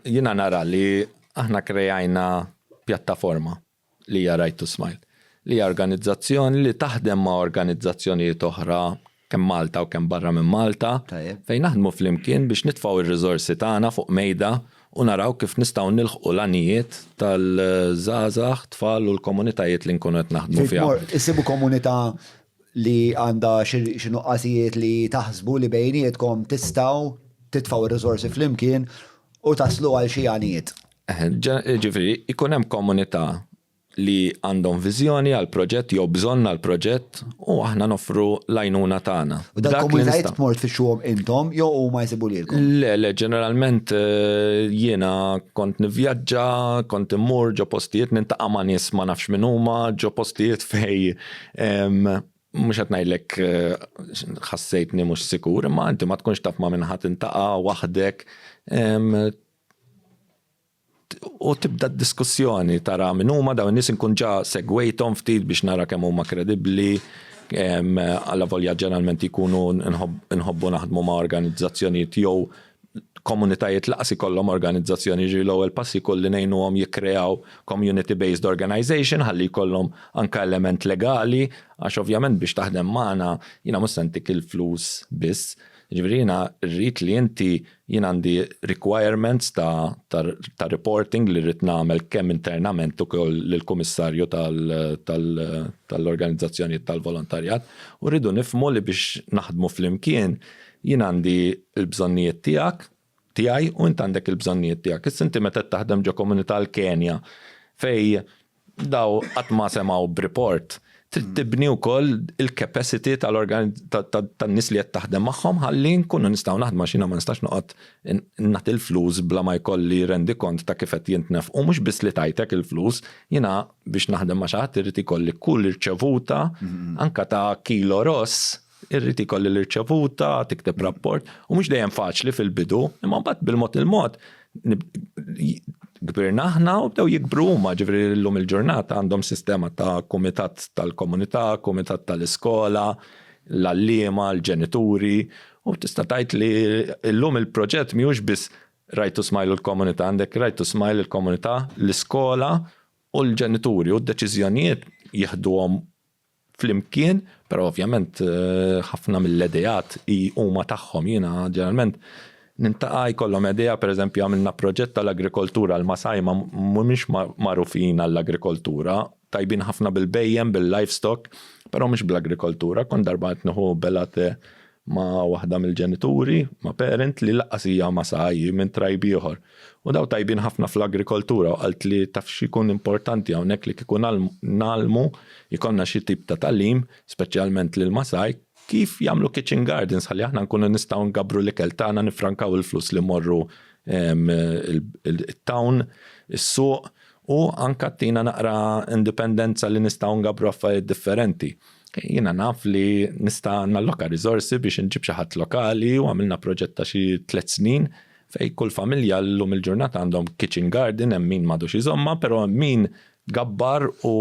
Jiena nara li aħna krejajna pjattaforma li hija Right to Smile, li hija organizzazzjoni li taħdem ma' organizzazzjonijiet oħra kemm Malta u kemm barra minn Malta, fejn naħdmu flimkien biex nitfgħu r-riżorsi tagħna fuq mejda u naraw kif nistgħu nilħqu l-għanijiet tal-żgħażagħ, tfal u l-komunitajiet li nkunu qed naħdmu fihom. Issibu komunità li għandha xi nuqqasijiet li taħsbu li bejnietkom tistgħu titfgħu r-riżorsi flimkien u taslu għal xi għanijiet. Jiġifieri jkun hemm komunità li għandhom viżjoni għal proġett jew bżonn għal proġett u aħna noffru l-għajnuna tagħna. U dak il-komunitajiet tmur tfixxuhom intom jew huma jsibu lilkom? Le, le, ġeneralment jiena kont nivvjaġġa, kont immur ġo postijiet, nintaqa' ma' nies ma nafx min huma, ġo postijiet fejn Mhux qed ngħidlek eh, ħassejtni mhux sikur, imma inti ma tkunx taf ma' minħat intaqa' waħdek u tibda diskussjoni tara minn huma dawn nies inkun ġa segwejthom ftit biex nara kemm huma kredibbli għalla volja ġeneralment jkunu nħobbu naħdmu ma' organizzazzjonijiet jew komunitajiet lanqas ikollhom organizzazzjoni, jiġifieri l-ewwel pass jkun li ngħinuhom jikkreaw community based organization ħalli jkollhom anke element legali għax ovvjament biex taħdem magħna jiena mhux se ntik il-flus biss. Jiġifieri jiena rrid li inti jien għandi requirements ta' ta' reporting li rrid nagħmel kemm internament ukoll lill-Kummissarju tal-organizzazzjonijiet tal-volontarjat u rridu nifhmu li biex naħdmu flimkien Jien għandi l-bżonnijiet tiegħek, tiegħi u int għandek il-bżonnijiet tiegħek. Issa inti meta qed taħdem ġo komunità l-Kenja fejn daw qatt ma semgħu b'report, trid tibni wkoll il-capacity tan-nies li qed taħdem magħhom ħalli nkunu nistgħu naħdmu għax jiena ma nistax noqgħod nagħti l-flus bla ma jkolli rendikont ta' kif qed jintnefqu. Mhux biss li tajtek il-flus, jiena biex naħdem ma' xi ħadd irid ikolli kull irċevuta anke ta' kilo ross Irrid ikolli l-irċevuta, tikteb rapport, u mhux dejjem faċli fil-bidu, imma mbagħad bil-mod il-mod kbirna aħna u bdew jikbru huma, ġifieri llum il-ġurnata għandhom sistema ta' kumitat tal-komunità, kumitat tal-iskola, l-għalliema, l-ġenituri, u tista' tgħid li llum il-proġett mhijiex biss Right to Smile u l-komunità, għandek Right to Smile, il-komunità, l-iskola u l-ġenituri, u d-deċiżjonijiet jieħduhom flimkien, però ovvjament ħafna mill-ideat huma tagħhom. Jiena ġeneralment nintaqa' jkollhom idea, pereżempju għamilna proġett tal-agrikoltura, l-Masai mhumiex magħrufin għall-agrikoltura, tajbin ħafna bil-bhejjem, bil-livestock, però mhux bl-agrikoltura. Kont darba qed nieħu bella te ma' waħda mill-ġenituri, ma' parent li lanqas hija ma' sa hi minn tribe ieħor. U dawn tajbin ħafna fl-agrikoltura u qaltli taf x'ikun importanti hawnhekk li kieku ngħallmu, jkollna xi tip ta' tagħlim, speċjalment lill-Masai, kif jagħmlu kitchen gardens ħalli aħna nkunu nistgħu ngabbru l-ikel tagħna nifrankaw il-flus li mmorru it-town, is-suq, U anka ttina naqra indipendenza li nistgħu ngabbru affarijiet differenti. Jiena naf li nista' nalloka riżorsi biex inġib xi ħadd lokali u għamilna proġett ta' xi tliet snin fejn kull familja llum il-ġurnata għandhom kitchen garden hemm min m'għadux iżommha, però hemm min gabbar u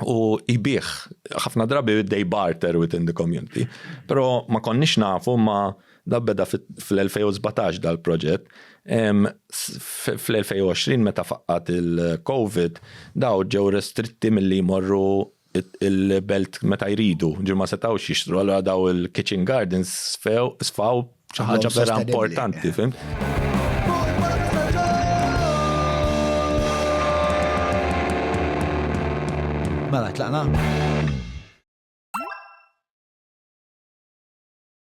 u jbih ħafna drabi dej barter within the community. Pero ma konniex nafu ma da beda fl-2017 dal-proġett. Fl-2020 meta faqqat il-COVID daw ġew restritti mill-li jmorru il-belt meta jridu, ġu ma setawx jixtru, għallura daw il-kitchen gardens sfaw Xi ħaġa vera importanti, fim? Mela, tlaqna.